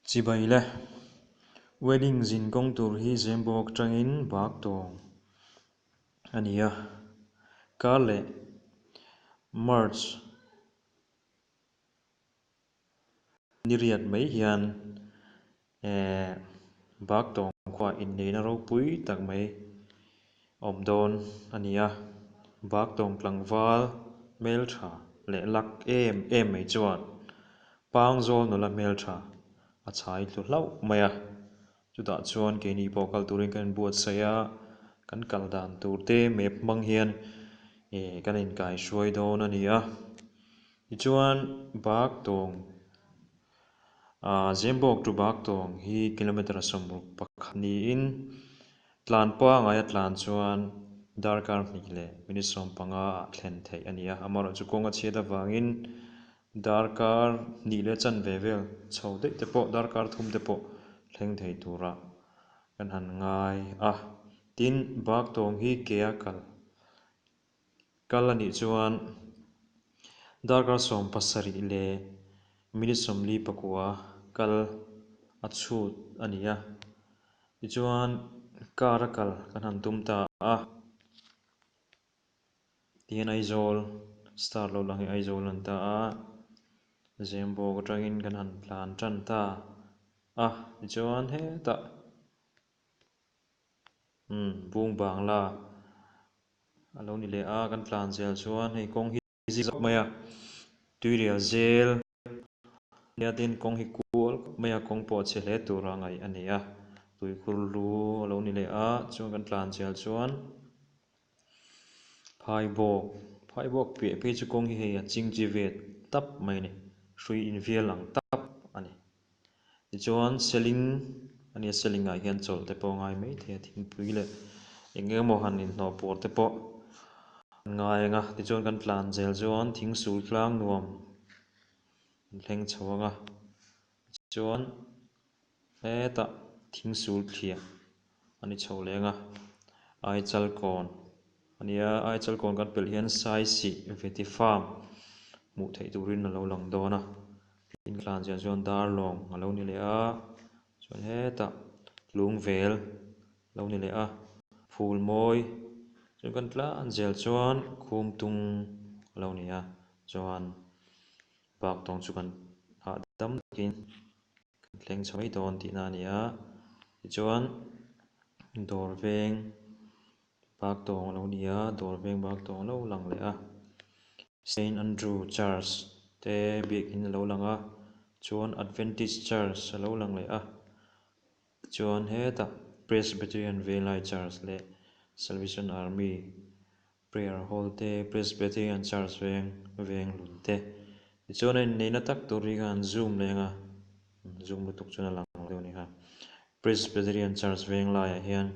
Chibai le, wedding zin kawng tur hi Zembawk tangin bak tawng a ni a, kar leh March ni riat mai hian Ehh, bak tawng khuaah inneihna ropui tak mai awm dawn a ni a, bak tawng tlangval hmeltha leh lak em em mai chuan pangzawl nula hmeltha a chai hlu hlauh mai a, chutah chuan keini pawh kal turin kan inbuatsaih a, kan kal dan turte map hmang hian ehh kan inkairuai dawn a ni a, tichuan bak tawng. A Zembawk to Baktawng hi kilometre sawmruk pakhat niin tlan pangaia tlan chuan darkar hnih leh minute sawm panga ah thlen theih a ni a, amaherawh chu kawng a chhiat avangin darkar hnih leh chan ve vel chho daih te pawh darkar thum te pawh thleng thei tura kan han ngai a. Tin, Baktawng hi kea kal Kal a nih chuan darkar sawm pasarih leh minute sawmli pakua kal a chhut a ni a, tichuan car a kal kan han tum ta a, ti hian Aizawl start lo lang hi Aizawl a lan ta a, zem bawk atangin kan han tlan tan ta a, tichuan hetah umm Bungbangla A lo ni leh a, kan tlan zel chuan hei kawng hi zing zauh mai a, tuirial zel nia tin kawng hi kual khawp mai a, kawng pawh che hle tur a ngaih a ni a, tui khur hlu a lo ni leh a, chuan kan tlan zel chuan phai bawk, phai bawk piah phei chu kawng hi hei a ching chi vet tap mai a ni, hrui invial ang tak a ni. Tichuan ceiling a nia ceiling ah hian chawlh te pawh a ngai maithei a thingpui leh eng eng maw han inhlawh pawr te pawh an ngai ang a tichuan kan tlan zel chuan thing sul tlang nuam an thleng chho ang a tichuan hetah thing sul thliah. a ni chho leng a, Aichal kawn a ni a, Aichal kawn kan pelh hian Saisi Vetifarm hmuh theih turin a lo lang dawn a, field tlan ziah chuan Darlawng a lo ni leh a, chuan hetah Lungvel a lo ni leh a, Phulmawi chuan kan tlan zel chuan Khumtung a lo ni a, chuan bak tawng chu kan hah dam takin. kan thleng chho mai dawn tihna a ni a, tichuan dawr veng bak tawng a lo ni a, dawr veng bak tawng a lo lang leh a, Saint Andrew Church te biakin a lo lang a, chuan Adventist Church a lo lang leh a, chuan hetah Presbyterian Velai Church leh Salvation Army Prayer hall te, Presbyterian Church veng, veng lun te. Tichuan a inneihna tak tur hi khan Zoom leng a, umm Zoom lutuk chuan a lang lo deuh a ni kha. Presbyterian Church veng laiah hian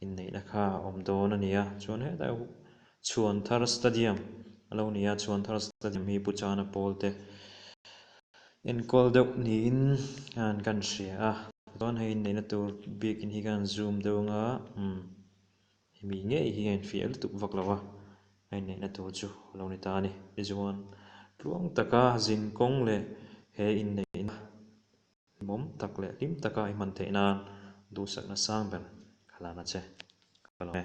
inneihna kha a awm dawn a ni a, chuan hetah Chhuan Thar Stadium a lo ni a, Chhuan Thar Stadium hi Pu Chana Pawl te enkawl deuh niin khan kan hria a, tichuan hei inneihna tur bikin hi khan Zoom deuh anga umm Hemi ngei hi a infiah lutuk vak lo a, a inneihna tur chu a lo ni ta a ni. Tichuan, tluang taka zin kawng leh he inneihna bawm tak leh hlim taka i hman theih nan duhsakna sang ber kha lana che ka lo e.